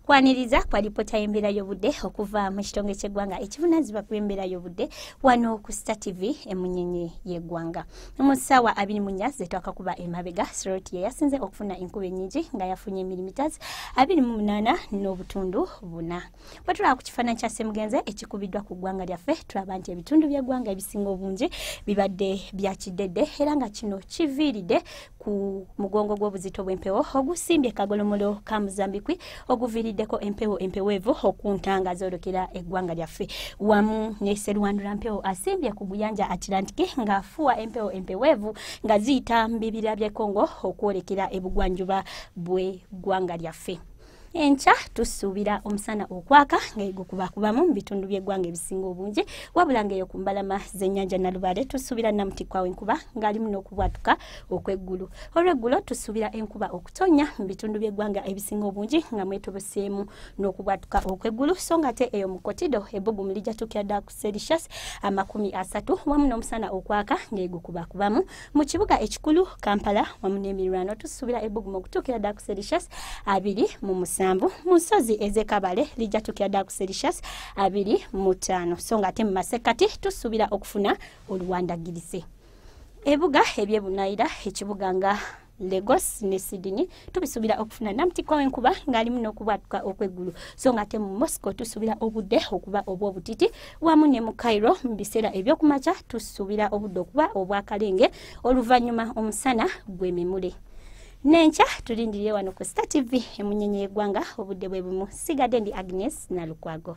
kwaniriza kwa lipoota y'embeera y'obudde okuva mu kitongole ky'eggwanga ekivunanyizibwa ku embeera y'obudde wano ku star tv emunyenye y'eggwanga mu ssaawa abiri mu nnya zetwakakuba emabega siroti ye yasinze okufuna enkuba ennyingi nga yafunye mirimitazi abiri mu munaana n'obutundu buna bwe tulaba ku kifaananyi kya semugenze ekikubiddwa ku ggwanga lyaffe tulaba nti ebitundu by'eggwanga ebisinga obungi bibadde bya kiddedde era nga kino kiviiridde ku mugongo gw'obuzito bw'empewo ogusimbye kagolomolo ka muzambikwi oguviiriddeko empewo empeweevu okuntanga zoolokera eggwanga lyaffe wamu ne serwandula mpewo asimbye ku guyanja atlantiki ng'afuwa empewo empeweevu nga ziyita mu bibira by'ekongo okwolekera ebugwanjuba bw'eggwanga lyaffe enkya tusuubira omusana okwaka nga egukubakubamu mu bitundu by'eggwanga ebisinga obungi wabula nga eyo ku mbalama z'ennyanja nalubaale tusuubira namutikwawo enkuba ng'alimu n'okubwatuka okw'eggulu olw'eggulo tusuubira enkuba okutonya mu bitundu by'eggwanga ebisinga obungi nga mwetobeseemu n'okubwatuka okw'eggulu so nga ate eyo mu kotido ebbugumu lijatuukira ddala ku celsius amakumi asatu wamu n'omusana okwaka ng'egukubakubamu mu kibuga ekikulu kampala wamu n'emirwano tusuubira ebbugumu okutuukira ddala ku celsius abiri mu musanvu mu nsozi ez'ekabale lijja tuukira ddala ku celsius abiri mu ttaano so ng'ate mu masekkati tusuubira okufuna oluwandagirise ebuga ebyebunayira ekibuga nga Lagos ne Sydney tubisubira okufuna namtikwa wenkuba ngalimu nokubwatuka okwegulu so nga te mu Moscow tusubira obudde okuba obwobutiti wamu ne mu Cairo mu biseera ebyokumakya tusubira obudde okuba obwakalenge oluvannyuma omusana gwemimule nenkya tulindiriye wano ku Star TV emunyenye y'eggwanga obudde bwe bumu sigadde ndi Agnes Nalukwago